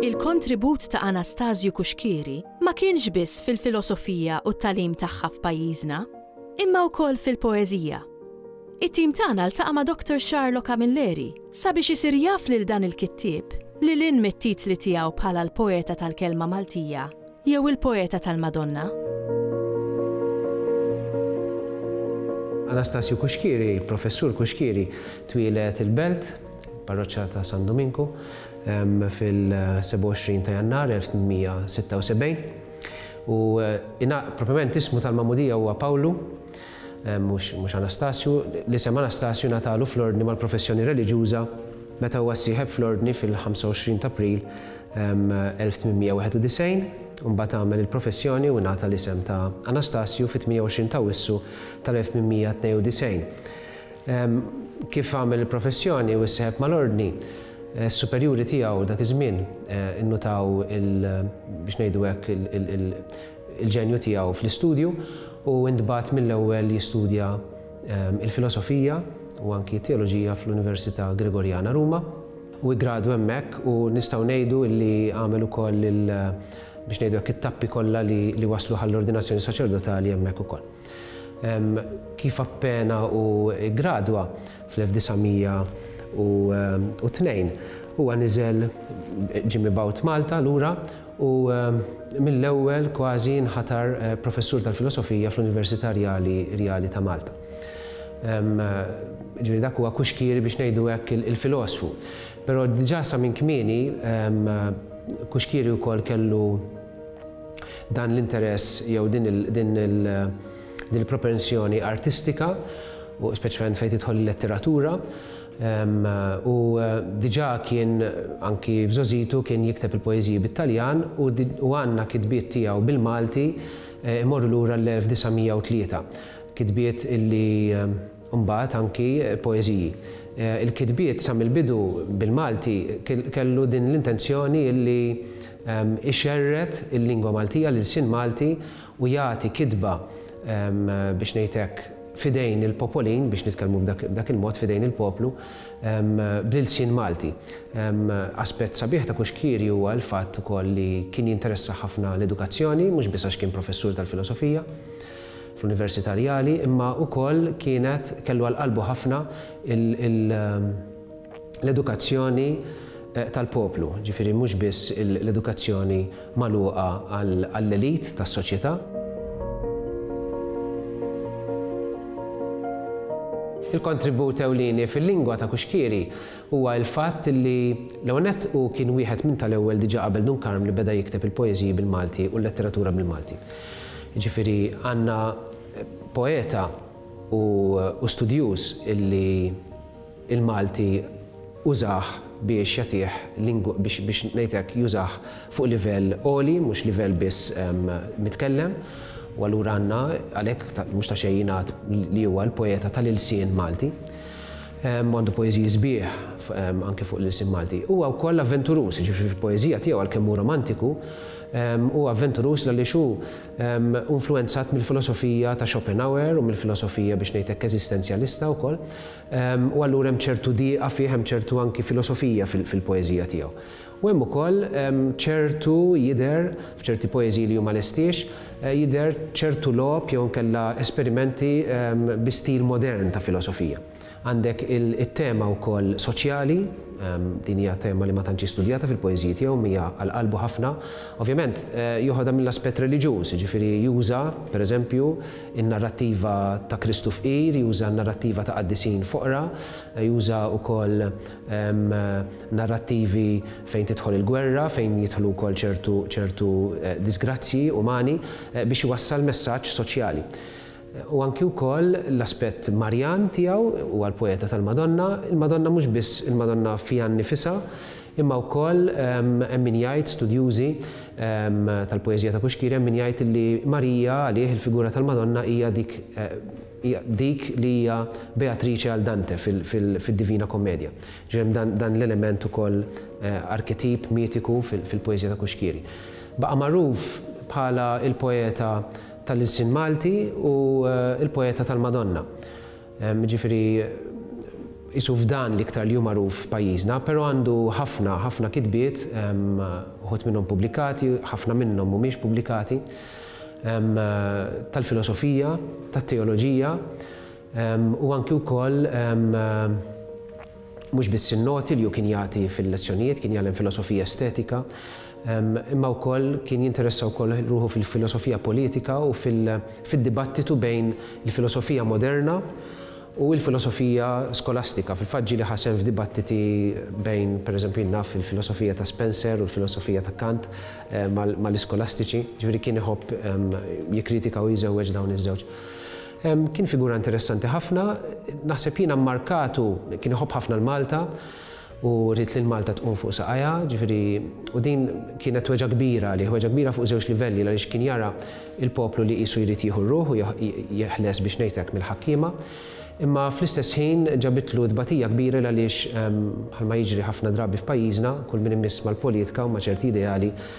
Il-kontribut ta' Anastasju Cuschieri ma kienx biss fil-filosofija u t-tagħlim tagħha f'pajjiżna, imma wkoll fil-poeżija. It-tim tagħna ltaqa' ma' Dottor Charlo Camilleri, Sabiex isir jaf lil dan il-kittieb, lil hinn mit-titli tiegħu bħala l-poeta tal-kelma Maltija jew il-poeta tal-Madonna. Anastasju Kuxkieri, Professur Kuxkieri, twieled il-Belt, parroċċa ta' San Duminku, fil-27 ta' Jannar 1876. U eh, propjament ismu tal-Mamudija huwa Pawlu, Mhux Anastasju, l-isem Anastasju ngħatalu fl-Ordni mal-professjoni reliġjuża meta huwa ssieħeb fl-Ordni fil-25 t'April 1891, u mbagħad għamel il-professjoni u ngħata l-isem ta' Anastasju fit-28 t'Awwissu tal-1892. Kif għamel il-professjoni u sseħeb mal-Ordni, s-superjuri tiegħu dak iż-żmien innutaw il, biex ngħidu hekk, il-ġenju tiegħu fl-istudju u ntbagħat mill-ewwel jistudja l-filosofija u anki t-teoloġija fl-Università Gregorjana Ruma u iggradu hemmhekk u nistgħu ngħidu li għamel ukoll il biex ngħidu hekk it-tappi kollha li wasluh għall-ordinazzjoni saċerdotali hemmhekk ukoll. Kif appena hu ggradwa fl-1902, huwa niżel, ġie mibgħut Malta lura u mill-ewwel kważi inħatar Professur tal-Filosofija fl-Università Rjali ta' Malta. Jiġifieri dak huwa kuxkieri biex ngħidu hekk il-filosfu. Però diġà sa minn kmieni kuxkieri wkoll kellu, Dan l-interess jew din il-propensjoni artistika, u speċjalment fejn tidħol il-letteratura, ehm, u eh, diġà kien anki f'żożitu kien jikteb il-poeżiji bit-Taljan u għandna kitbiet tiegħu bil-Malti eh, imorru lura l-1903. Kitbiet illi eh, Imbagħad anki poeżiji. Il-kitbiet sa mill-bidu bil-Malti kellu din l-intenzjoni li ixerred il-lingwa Maltija, l-ilsien Malti u jagħti kitba biex ngħid hekk f'idejn il-popolin, biex nitkellmu b'dak il-mod f'idejn il-poplu, bl-ilsien Malti. Aspett sabiħ ta' Kuxkieri huwa l-fatt ukoll li kien jinteressah ħafna l-edukazzjoni, mhux biss għax kien professur tal-filosofija, fl-Università Rjali imma ukoll kienet kellu għal qalbu ħafna l-edukazzjoni tal-poplu, ġifieri mhux biss l-edukazzjoni magħluqa għall-elite tas-soċjetà. Il-kontribut ewlieni fil-lingwa ta' Kuxkieri huwa l-fatt li l-ewwel nett hu kien wieħed minn tal-ewwel diġà qabel Dun Karm li beda jikteb il-poeżiji bil-Malti u l-letteratura bil-Malti. Jiġifieri għandna poeta u studjuż illi l-Malti użah biex jagħtih lingwa, biex ngħid hekk, jużah fuq livell għoli, mhux livell biss mitkellem, u allura għandna għalhekk mhux ta' xejn jingħad li huwa l-poeta tal-ilsien Malti. U għandu poeżiji sbieħ anke fuq l-ilsien Malti. Huwa wkoll avventuruż, jiġifieri fil-poeżija tiegħu għalkemm hu romantiku, Hu avventuruż għaliex hu influwenzat mill-filosofija ta' Schopenhauer u mill-filosofija biex ngħid hekk eżistenzjalista wkoll. U allura hemm ċertu diqa fih, hemm ċertu anki filosofija fil-poeżija tiegħu. U hemm ukoll ċertu jidher f'ċerti poeżiji li hu ma lestiex, jidher ċertu logħob jew inkella esperimenti bi stil modern ta' filosofija. Għandek it-tema wkoll soċjali, din hija tema li ma tantx hi studjata fil-poeżiji tiegħu, hija għal qalbu ħafna. Ovvjament joħodha mill-aspett reliġjuż, jiġifieri juża, pereżempju, in-narrattiva ta' Kristu fqir, juża n-narrattiva ta' qaddisin foqra, juża wkoll narrattivi fejn tidħol il-gwerra, fejn jidħlu wkoll ċertu ċertu diżgrazzji umani biex iwassal messaġġ soċjali. u anki wkoll l-aspett Marjan tiegħu, huwa l-poeta tal-Madonna, il-Madonna mhux biss il-Madonna fiha nnifisha, imma wkoll hemm min jgħid, studjużi tal-poeżija ta' Pushkiri, hemm min jgħid li Marija għalih, il-figura tal-Madonna hija dik hija dik li hija Beatrice għal Dante fid-Divina Kommedja. Ġifieri hemm dan l-element ukoll arketip mitiku fil-poeżija ta' Pushkiri. Baqa' magħruf bħala l-poeta tal-ilsien Malti u l-poeta tal-Madonna. Jiġifieri qisu f'dan l-iktar li hu magħruf f'pajjiżna, però għandu ħafna, ħafna kitbiet, uħud minnhom pubblikati, ħafna minnhom mhumiex pubblikati, tal-filosofija, tat-teoloġija, U anki wkoll mhux biss in-noti li hu kien jagħti fil-lezzjonijiet, kien jgħallem filosofija estetika, imma wkoll kien jinteressa wkoll ruħu fil-filosofija politika u fid-dibattitu bejn il-filosofija moderna u l-filosofija skolastika. Fil-fatt ġieli ħasem f'dibattiti bejn, pereżempju, naf il-filosofija ta' Spencer u l-filosofija ta' Kant mal-iskolastiċi, ġifieri kien iħobb jikkritika u jżewweġ dawn iż-żewġ. Kien figura interessanti ħafna, naħseb jiena mmarkatu, kien iħobb ħafna l-Malta u ried li l-Malta tqum fuq saqajha, ġifieri u din kienet weġgħa kbira għalih, weġgħa kbira fuq żewġ livelli għaliex kien jara l-poplu li qisu jrid jieħu r-ruħ u jeħles biex ngħid hekk mill-ħakkiema, imma fl-istess ħin ġabitlu tbatija kbira għaliex bħalma jiġri ħafna drabi f'pajjiżna, kull min imiss mal-politika u ma' ċerti ideali